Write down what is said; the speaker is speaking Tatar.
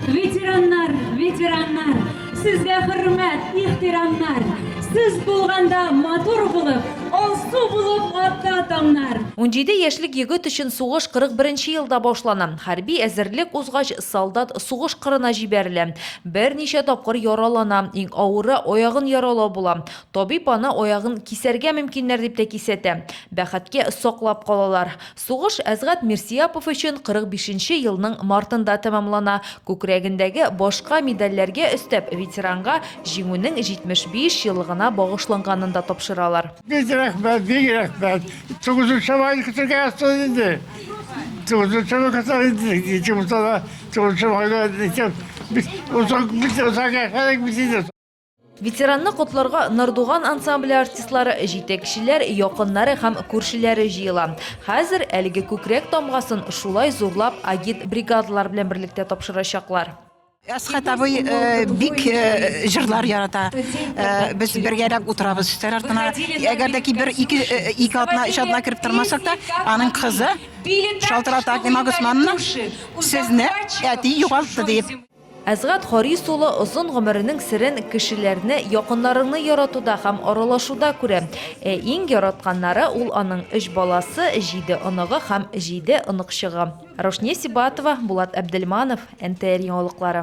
Ветераннар, ветераннар, сезгә хөрмәт, ихтирамнар. Сез булганда матур булып, алсу булып атта таңнар. 17 яшьлек егет өчен сугыш 41 елда башлана. Хәрби әзерлек узгач, солдат сугыш кырына җибәрелә. Берничә тапкыр яралана. Иң авыры аягын яралау була. Табиб аны аягын кисәргә мөмкиннәр дип тә кисәтә. Бәхеткә, саклап калалар. Сугыш Әзгать Мирсияпов өчен 45 нче елның мартында тәмамлана. Күкрәгендәге башка медальләргә өстәп, ветеранга Җиңүнең 75 еллыгына багышланганын да тапшыралар. Бик рәхмәт, бик рәхмәт. Тугызынчы майны көтәргә ясады инде. Тугызынчы май көтәр инде. Ике булса да, тугызынчы майны итеп, без озак, без озак яшәдек без инде. Ветеранны котларга Нардуган ансамбле артистлары, җитәкчеләр, якыннары һәм күршеләре җыела. Хәзер әлеге күкрәк тамгасын шулай зурлап агит бригадалар белән берлектә тапшырачаклар. Әсхәт абый э, бик э, җырлар ярата. Э, без бергәләп утырабыз өстәл артына. Әгәр дә ки бер ике ике атна өч атна кереп тормасак та, аның кызы Шалтырата Акмина Госмановна сезне әти югалтты дип Әсгать Харис улы озын гомеренең серен кешеләрне, якыннарыңны яратуда һәм аралашуда күрә. Ә иң яратканнары ул аның өч баласы, җиде оныгы һәм җиде оныкчыгы. Раушния Сибатова, Булат Әбделманов, НТР яңалыклары.